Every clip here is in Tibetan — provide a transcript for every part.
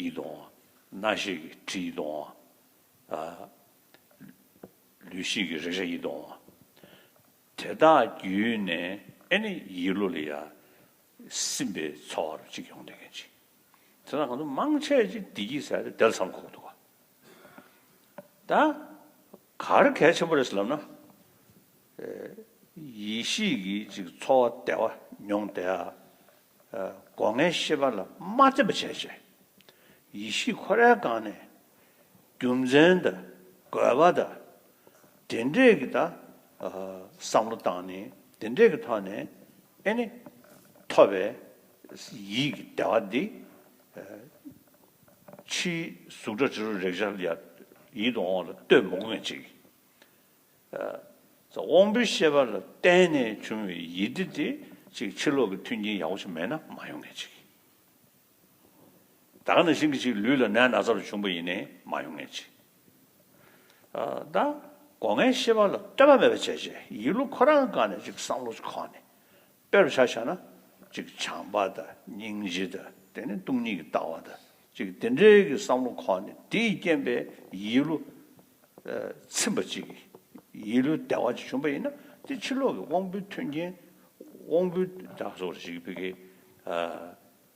ཡིད་དང། སྣ་ཞིག་གི་དྲི་ཡིད་དང། ལུས་ཞིག་གི་རེག་བྱ་ཡིད་དང། དེ་དག་བརྒྱུད་ནས་ཨེ་ནི་ཡིད་བློ་ལ་ཡང་སིམ་པའི་ཚོར་བ་རུ་གཅིག་ཡོང་དོན་གལ་ཆེ། དེ་དག་གང་དུ་མང་ཆེ་བྱས་བདེ་སྐྱིད་ཟེར་ཏེ་དེ་ལ་བསམ་ཁོག་འདུག་ག། ད་གར་གལ་ཆེན་པོ་རེད་ལབ་ན། ཡིད་ཤེས་ཀྱི་ཅིག་ཚོར་བ་བདེ་བ་མྱོང་བདེ། སྒོ་ལྔའི་ཤེས་པ་ལ་མ་བརྩི་བར་བྱས་ཤིང། ཡེ་ཤེས་ཁོ་རལ་བཀང་ནས། རྒྱུ་མཚན་དང་དགོས་པ་དང། དེ་འབྲས་ཀྱི་དང། བསམ་བློ་དང་ནི་དེ་འབྲས་ཀྱི་ཐོག་ནས་ཨེ་ནི། ཐོབ་པའི་ཡིད་ཀྱི་བདེ་བ་འདི། ཕྱིའི་གཟུགས་སྒྲ་དྲི་རོ་རེག་བྱ་ཡིད་དུ་འོང་ལ་ལྟོས་མི་དགོས་ཅིག། དབང་པོའི་ཤེས་པ་ལ་བརྟེན་ནས་བྱུང་བའི་ཡིད་བདེ་དེ་ཅིག་ཕྱིར་ལོག་གི་མཐུན་རྐྱེན་ཡག་པོ་ཞིག་མེད་ན་མ་ཡོང་ངེས་ཅིག། དག་ན་ཞིང་གི་ཅིག་ལུས་ལ་ནད་ན་ཚ་རུ་བྱུང་བ་ཡིན་ནས་མ་ཡོང་ངེས་ཅིག། ད་སྒོ་ངའི་ཤེས་པ་ལ་ལྟོས་པ་མེད་པ་བྱས་བྱས་ཡིད་བློ་ཁོ་རང་གང་ནས་ཅིག་བསམ་བློ་ཅིག་ཁོག་ནས་དཔེར་བྱ་བྱ་ན། གཅིག་བྱམས་པ་དང་སྙིང་རྗེ་དང་དེ་ནི་སྟོང་ཉིད་ཀྱི་ལྟ་བ་དང་གཅིག་དེ་འདྲའི་གི་བསམ་བློ་ཁོ་ནས་དེའི་རྐྱེན་པས་ཡིད་བློ་ཚིམས་པ་ཅིག་ཡིད་བློའི་བདེ་བ་ཅིག་བྱུང་བ་ཡིན་ན་དེ་ཕྱི་ལོག་གི་དབང་པོའི་མཐུན་རྐྱེན་དབང་པོའི་སྒྲ་སོགས་རིག་པའི་གི།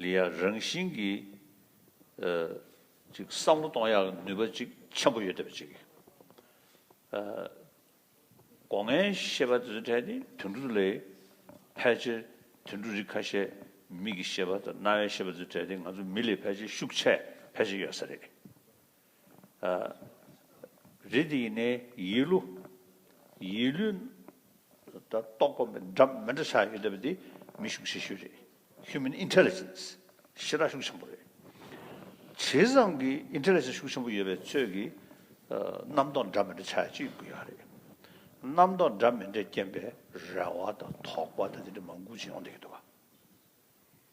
ལི་ཡ་རང་བཞིན་གྱི་ཅིག་བསམ་བློ་གཏོང་ཡག་ནུས་པ་ཅིག་ཆེན་པོ་ཡོད་བསྡད་པ་ཅིག་ཡིན། སྒོ་ངའི་ཤེས་པ་དེ་ཚོའི་གྲས་ནི་དུད་འགྲོ་ལས་ཕལ་ཆེར་དུད་འགྲོ་རིགས་ཁ་ཤས་མིག་གི་ཤེས་པ་དང་རྣ་བའི་ཤེས་པ་དེ་ཚོའི་གྲས་དེ་ང་ཚོ་མི་ལས་ཕལ་ཆེར་ཤུགས་ཆེ་ཕལ་ཆེར་ཡོད་ས་རེད། རེ་འདི་ཡིན་ནས་ཡིད་བསླུ། ཡིད་བསླུ། དང་རྟོག་པ་མི་འདྲ་མི་འདྲ་ཆགས་ཡོད་པ་འདི་མི་ཤུགས་ཆེ་ཤོས་རེད། Human Intelligence། ཤི་ར་ཤུགས་ཆེན་པོ་རེད། བྱས་ཙང་གི Intelligence ཤུགས་ཆེན་པོ་ཡོད་པའི་ཚོད་ཀྱི་རྣམ་རྟོག་འདྲ་མི་འདྲ་ཆགས་ཅི་ཡོད་དགོས་ཡག་རེད། རྣམ་རྟོག་འདྲ་མི་འདྲས་རྐྱེན་པས་རེ་བ་དང་དོགས་པ་དང་དེ་འདྲ་མང་འགུག་ཅི་ཡོང་བསྡད་ཀྱི་འདུག་ག།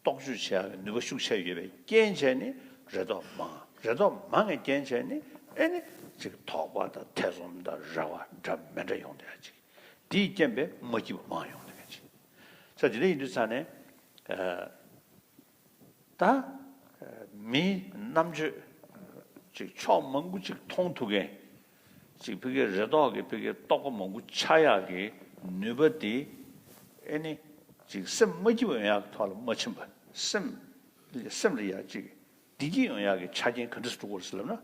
རྟོག་དཔྱོད་བྱ་བའི་ནུས་པ་ཤུགས་ཆེར་ཡོད་པའི་རྐྱེན་བྱས་ནི་རེ་དོགས་མང། རེ་དོགས་མང་བའི་རྐྱེན་བྱས་ནི་ཨེ་ནི། ཅིག་དོགས་པ་དང་ཐེ་ཚོམ་དང་རེ་བ་འདྲ་མི་འདྲ་ཡོང་དོན་ཅིག། དེའི་རྐྱེན་པས་མ་སྐྱིད་པ་མང་ཡོང་དོན་ཅིག། ས་དེ་འདྲ་ཡིན་དུས་ཚང་ནས་ད། མིའི་རྣམ་དཔྱོད། ཅིག་ཕྱོགས་མང་པོ་ཅིག་མཐོང་ཐུབ་མཁན། ཅིག་ཕི་གེ་རེ་དོག་གི་ཕི་གེ་རྟོག་པ་མང་པོ་ཆགས་ཡག་གི་ནུས་པ་དེ་ཨེ་ནི། ཅིག་སེམས་མ་སྐྱིད་ཡོང་ཡག་གི་ཐོག་ལ་མ་ཕྱིན་པ་སེམས་ཕི་གེ་སེམས་རེ་ཡག་ཅིག་བདེ་སྐྱིད་ཡོང་ཡག་གི་ཆ་རྐྱེན་ག་འདྲ་སུ་དཀོར་ཟེར་ལབ་ན་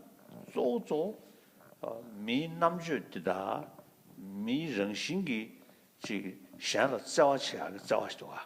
གཙོ་བོ་གཙོ་བོ་མིའི་རྣམ་དཔྱོད་དེ་དག་མིའི་རང་བཞིན་གྱི་ཅིག་གཞན་ལ་བརྩེ་བ་བྱེད་ཡག་གི་བརྩེ་བ་ཞིག་དགོས།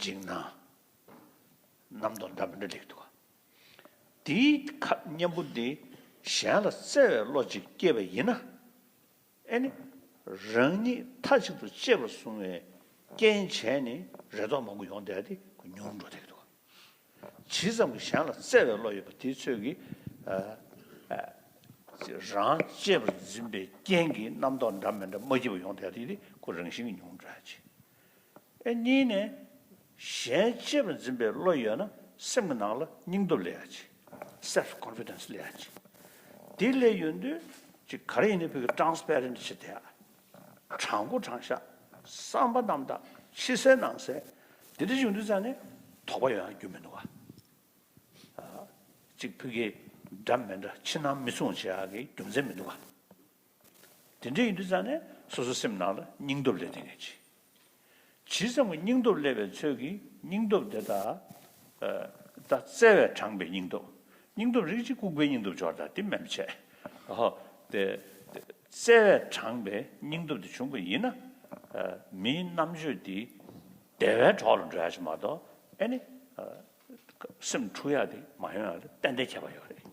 འཇིགས་སྣང་རྣམ་རྟོག་འདྲ་མི་འདྲ་ལེགས་འདུག། འདིའི་ཁ་སྙན་པོ་འདི་གཞན་ལ་བསྩལ་བའི་བློ་ཅིག་སྐྱེས་པ་ཡིན་ན། ཨེ་ནི། རང་ཉིད་མཐའ་གཅིག་ཏུ་གཅེས་པར་བཟུང་བའི་རྐྱེན་བྱས་ནི་རེ་དོགས་མང་པོ་ཡོང་བསྡད་དེ་མྱུར་འགྲོ་ལེགས་འདུག། ཇི་ཙམ་གྱི་གཞན་ལ་བསྩལ་བའི་བློ་ཡོད་པ་དེའི་ཚོད་ཀྱིས། རང་གཅེས་པར་འཛིན་པའི་རྐྱེན་གྱིས་རྣམ་རྟོག་འདྲ་མི་འདྲ་མ་སྐྱེས་པ་ཡོང་བསྡད་དེ་ཀུན་རང་བཞིན་གྱིས་མྱུར་འགྲོ་ཡག་ཆེ། ཨེ། གཉིས་ནི། གཞན་གཅེས་པར་འཛིན་པའི་བློ་ཡོད་ན་སེམས་ཀྱི་ནང་ལ་སྙིང་སྟོབས་ལས་ཡག་ཅི། Self Confidence། ལས་ཡག་ཅི། དེ་ལས་ཡོད་དུས་ཅི་ག་རེ་ཡིན་ནའི་བོད་ཀྱི Transparent བྱེད་བསྡད་ཨ། དྲང་པོ་དྲང་བཞག་བསམ་པ་རྣམ་དག་ཕྱི་གསལ་ནང་གསལ་དེ་འདྲ་བྱུང་དུས་ཙང་ནི་དོགས་པ་ཡོད་ཡང་རྒྱུ་མི་འདུག་ཨ། གཅིག་བོད་ཀྱི་སྒྲ་མི་འདྲ་ཕྱི་ནང་མི་མཚུངས་བྱེད་ཡག་གི་རྒྱུ་མཚན་མི་འདུག་ཨ། དེ་འདྲ་ཡིན་དུས་ཙམ་ནས་སོ་སོའི་སེམས་ནང་ལ་སྙིང་སྟོབས་སླེབས་ཐེངས་ངེས་ཆེ། ཇི་ཙམ་གྱི་སྙིང་སྟོབས་སླེབས་པའི་ཚོད་ཀྱིས་སྙིང་སྟོབས་དེ་དག་ད་བཙལ་བས་དྲངས་པའི་སྙིང་སྟོབས། སྙིང་སྟོབས་རིགས་གཅིག་ལྐུགས་པའི་སྙིང་སྟོབས་སྦྱོར་དང་དེ་མན་ཆད། དེ་བཙལ་བས་དྲངས་པའི་སྙིང་སྟོབས་དེ་བྱུང་པ་ཡིན་ན། མིའི་རྣམ་དཔྱོད་དེ་བདེ་བའི་གྲོགས་ལ་འགྲོ་ཡག་ཅིག་མ་གཏོགས་ཨེ་ནི། སེམས་འཁྲུགས་ཡག་དེ་མ་ཡོང་ཡང་ཏན་ཏན་ཁྱད་པར་ཡོད་རེད།